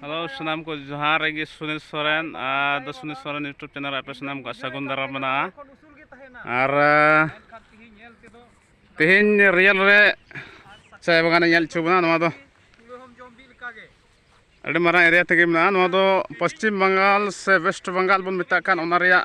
hello ᱥᱟᱱᱟᱢ ᱠᱚ ᱡᱟᱦᱟᱸ ᱨᱮᱜᱮ ᱥᱩᱱᱤᱞ ᱥᱚᱨᱮᱱ ᱟᱨ ᱫᱚ ᱥᱩᱱᱤᱞ ᱥᱚᱨᱮᱱ ᱤᱭᱩᱴᱩᱵᱽ ᱪᱮᱱᱮᱞ ᱟᱯᱮ ᱥᱟᱱᱟᱢ ᱠᱚ ᱥᱟᱹᱜᱩᱱ ᱫᱟᱨᱟ ᱢᱮᱱᱟᱜᱼᱟ ᱟᱨ ᱛᱮᱦᱮᱧ ᱨᱤᱭᱮᱞ ᱨᱮ ᱪᱟᱭ ᱵᱟᱜᱟᱱᱮ ᱧᱮᱞ ᱦᱚᱪᱚ ᱵᱚᱱᱟ ᱱᱚᱣᱟ ᱫᱚ ᱟᱹᱰᱤ ᱢᱟᱨᱟᱝ ᱮᱨᱤᱭᱟ ᱛᱮᱜᱮ ᱢᱮᱱᱟᱜᱼᱟ ᱱᱚᱣᱟ ᱫᱚ ᱯᱚᱥᱪᱤᱢ ᱵᱟᱝᱜᱟᱞ ᱥᱮ ᱣᱮᱥᱴ ᱵᱟᱝᱜᱟᱞ ᱵᱚᱱ ᱢᱮᱛᱟᱜ ᱠᱟᱱ ᱚᱱᱟ ᱨᱮᱭᱟᱜ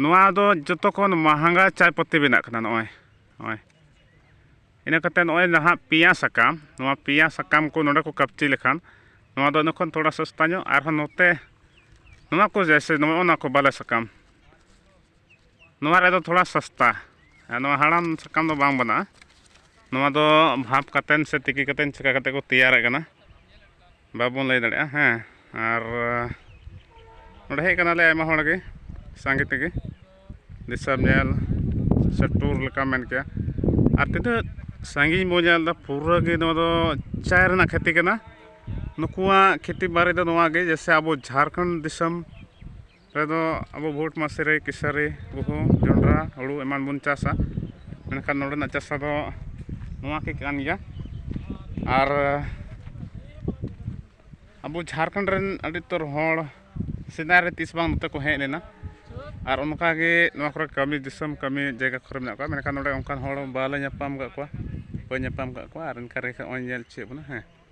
ᱱᱚᱣᱟ ᱫᱚ ᱡᱚᱛᱚ ᱠᱷᱚᱱ ᱢᱟᱦᱟᱸᱜᱟ ᱪᱟᱭ ᱯᱟᱹᱛᱤ ᱵᱮᱱᱟᱜ ᱠᱟᱱᱟ ᱱᱚᱜᱼᱚᱭ ᱱᱚᱜᱼᱚᱭ ᱤᱱᱟᱹ ᱠᱟᱛᱮ ᱱᱚᱜᱼᱚᱭ ᱱᱟᱦᱟᱜ ᱯᱮᱭᱟ ᱥᱟᱠᱟᱢ ᱱᱚᱣᱟ ᱯᱮᱭᱟ ᱥᱟᱠᱟᱢ ᱠᱚ ᱱᱚᱰᱮ ᱠᱚ ᱠᱟᱹᱯᱪᱤ ᱞᱮᱠᱷᱟᱱ ᱱᱚᱣᱟ ᱫᱚ ᱤᱱᱟᱹ ᱠᱷᱚᱱ ᱛᱷᱚᱲᱟ ᱥᱚᱥᱛᱟ ᱧᱚᱜ ᱟᱨᱦᱚᱸ ᱱᱚᱛᱮ ᱱᱚᱣᱟ ᱠᱚ ᱡᱮᱭᱥᱮ ᱱᱚᱜᱼᱚ ᱱᱚᱣᱟ ᱠᱚ ᱵᱟᱞᱮ ᱥᱟᱠᱟᱢ ᱱᱚᱣᱟ ᱨᱮᱫᱚ ᱛᱷᱚᱲᱟ ᱥᱚᱥᱛᱟ ᱟᱨ ᱱᱚᱣᱟ ᱦᱟᱲᱟᱢ ᱥᱟᱠᱟᱢ ᱫᱚ ᱵᱟᱝ ᱵᱮᱱᱟᱜᱼᱟ ᱱᱚᱣᱟ ᱫᱚ ᱵᱷᱟᱯ ᱠᱟᱛᱮ ᱥᱮ ᱛᱤᱠᱤ ᱠᱟᱛᱮ ᱪᱤᱠᱟᱹ ᱠᱟᱛᱮ ᱠᱚ ᱛᱮᱭᱟᱨᱮᱫ ᱠᱟᱱᱟ ᱵᱟᱵᱚᱱ ᱞᱟᱹᱭ ᱫᱟᱲᱮᱭᱟᱜᱼᱟ ᱦᱮᱸ ᱟᱨ ᱱᱚᱰᱮ ᱦᱮᱡ ᱠᱟᱱᱟᱞᱮ ᱟᱭᱢᱟ ᱦᱚᱲ ᱜᱮ ᱥᱟᱸᱜᱮ ᱛᱮᱜᱮ ᱫᱤᱥᱚᱢ ᱧᱮᱞ ᱥᱮ ᱴᱩᱨ ᱞᱮᱠᱟᱢ ᱢᱮᱱ ᱠᱮᱭᱟ ᱟᱨ ᱛᱤᱱᱟᱹᱜ ᱥᱟᱺᱜᱤᱧ ᱵᱚᱱ ᱧᱮᱞᱫᱟ ᱯᱩᱨᱟᱹ ᱜᱮ ᱱᱚᱣᱟ ᱫᱚ ᱪᱟᱭ ᱨᱮᱱᱟᱜ ᱠᱷᱮᱛᱤ ᱠᱟᱱᱟ ᱱᱩᱠᱩᱣᱟᱜ ᱠᱷᱮᱛᱤ ᱵᱟᱨᱮ ᱫᱚ ᱱᱚᱣᱟ ᱜᱮ ᱡᱮᱭᱥᱮ ᱟᱵᱚ ᱡᱷᱟᱲᱠᱷᱚᱸᱰ ᱫᱤᱥᱚᱢ ᱨᱮᱫᱚ ᱟᱵᱚ ᱵᱷᱳᱴ ᱢᱟᱹᱥᱨᱤ ᱠᱮᱥᱟᱹᱨᱤ ᱜᱩᱦᱩᱢ ᱡᱚᱱᱰᱨᱟ ᱦᱩᱲᱩ ᱮᱢᱟᱱ ᱵᱚᱱ ᱪᱟᱥᱟ ᱢᱮᱱᱠᱷᱟᱱ ᱱᱚᱰᱮᱱᱟᱜ ᱪᱟᱥᱟ ᱫᱚ ᱱᱚᱣᱟ ᱠᱚ ᱠᱟᱱ ᱜᱮᱭᱟ ᱟᱨ ᱟᱵᱚ ᱡᱷᱟᱲᱠᱷᱚᱸᱰ ᱨᱮᱱ ᱟᱹᱰᱤ ᱩᱛᱟᱹᱨ ᱦᱚᱲ ᱥᱮᱫᱟᱭ ᱨᱮ ᱛᱤᱥ ᱵᱟᱝ ᱱᱚᱛᱮ ᱠᱚ ᱦᱮᱡ ᱞᱮᱱᱟ ᱟᱨ ᱚᱱᱠᱟ ᱜᱮ ᱱᱚᱣᱟ ᱠᱚᱨᱮᱜ ᱠᱟᱹᱢᱤ ᱫᱤᱥᱚᱢ ᱠᱟᱹᱢᱤ ᱡᱟᱭᱜᱟ ᱠᱚᱨᱮ ᱢᱮᱱᱟᱜ ᱠᱚᱣᱟ ᱢᱮᱱᱠᱷᱟᱱ ᱱᱚᱰᱮ ᱚᱱᱠᱟᱱ ᱦᱚᱲ ᱵᱟᱞᱮ ᱧᱟᱯᱟᱢ ᱠᱟᱜ ᱠᱚᱣᱟ ᱵᱟᱹᱧ ᱧᱟᱯᱟᱢ ᱠᱟᱜ ᱠᱚᱣᱟ ᱟᱨ ᱚᱱᱠᱟ ᱨᱮᱜᱮ ᱱᱚᱜᱼᱚᱭ ᱧᱮᱞ ᱦᱚᱪᱚᱭᱮᱫ ᱵᱚᱱᱟ ᱦᱮᱸ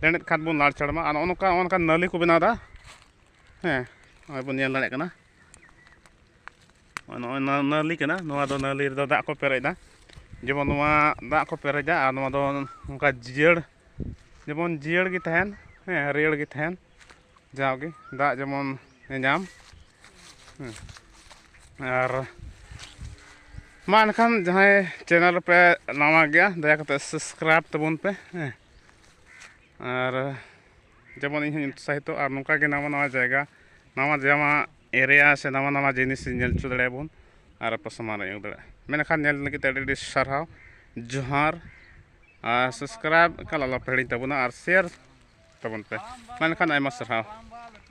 ᱞᱮᱸᱰᱮᱫ ᱠᱷᱟᱱ ᱵᱚᱱ ᱞᱟᱲ ᱪᱟᱲᱢᱟ ᱟᱨ ᱱᱚᱜᱼᱚ ᱱᱚᱝᱠᱟ ᱱᱚᱜᱼᱚ ᱱᱚᱝᱠᱟ ᱱᱟᱹᱞᱤ ᱠᱚ ᱵᱮᱱᱟᱣᱫᱟ ᱦᱮᱸ ᱱᱚᱜᱼᱚᱭ ᱵᱚᱱ ᱧᱮᱞ ᱫᱟᱲᱮᱭᱟᱜ ᱠᱟᱱᱟ ᱱᱚᱜᱼᱚᱭ ᱱᱟᱹᱞᱤ ᱠᱟᱱᱟ ᱱᱚᱣᱟ ᱫᱚ ᱱᱟᱹᱞᱤ ᱨᱮᱫᱚ ᱫᱟᱜ ᱠᱚ ᱯᱮᱨᱮᱡᱫᱟ ᱡᱮᱢᱚᱱ ᱱᱚᱣᱟ ᱫᱟᱜ ᱠᱚ ᱯᱮᱨᱮᱡᱟ ᱟᱨ ᱱᱚᱣᱟ ᱫᱚ ᱱᱚᱝᱠᱟ ᱡᱤᱭᱟᱹᱲ ᱡᱮᱢᱚᱱ ᱡᱤᱭᱟᱹᱲ ᱜᱮ ᱛᱟᱦᱮᱱ ᱦᱮᱸ ᱦᱟᱹᱨᱭᱟᱹᱲ ᱜᱮ ᱛᱟᱦᱮᱱ ᱡᱟᱣᱜᱮ ᱫᱟᱜ ᱡᱮᱢᱚᱱ ᱧᱟᱢ ᱟᱨ ᱢᱟ ᱮᱱᱠᱷᱟᱱ ᱡᱟᱦᱟᱸᱭ ᱪᱮᱱᱮᱞ ᱯᱮ ᱱᱟᱣᱟ ᱜᱮᱭᱟ ᱫᱟᱭᱟ ᱠᱟᱛᱮᱫ ᱥᱟᱵᱥᱠᱨᱟᱭᱤᱵᱽ ᱛᱟᱵᱚᱱ ᱯᱮ ᱦᱮᱸ ᱟᱨ ᱡᱮᱢᱚᱱ ᱤᱧ ᱦᱚᱸᱧ ᱩᱛᱥᱟᱦᱤᱛᱚ ᱟᱨ ᱱᱚᱝᱠᱟ ᱜᱮ ᱱᱟᱣᱟ ᱱᱟᱣᱟ ᱡᱟᱭᱜᱟ ᱱᱟᱣᱟ ᱡᱟᱢᱟ ᱮᱨᱤᱭᱟ ᱥᱮ ᱱᱟᱣᱟ ᱱᱟᱣᱟ ᱡᱤᱱᱤᱥ ᱧᱮᱞ ᱦᱚᱪᱚ ᱫᱟᱲᱮᱭᱟᱵᱚᱱ ᱟᱨ ᱟᱯᱮ ᱥᱟᱢᱟᱝ ᱨᱮ ᱟᱹᱜᱩ ᱫᱟᱲᱮᱭᱟᱜᱼᱟ ᱢᱮᱱᱠᱷᱟᱱ ᱧᱮᱞ ᱞᱟᱹᱜᱤᱫ ᱛᱮ ᱟᱹᱰᱤ ᱟᱹᱰᱤ ᱥᱟᱨᱦᱟᱣ ᱡᱚᱦᱟᱨ ᱟᱨ ᱥᱟᱵᱥᱠᱨᱟᱭᱤᱵᱽ ᱮᱠᱟᱞ ᱟᱞᱚᱯᱮ ᱦᱤᱲᱤᱧ ᱛᱟᱵᱚᱱᱟ ᱟᱨ ᱥᱮᱭᱟᱨ ᱛᱟᱵᱚᱱ ᱯᱮ ᱢᱟ ᱮᱱᱠᱷᱟᱱ ᱟᱭᱢᱟ ᱥᱟᱨᱦᱟᱣ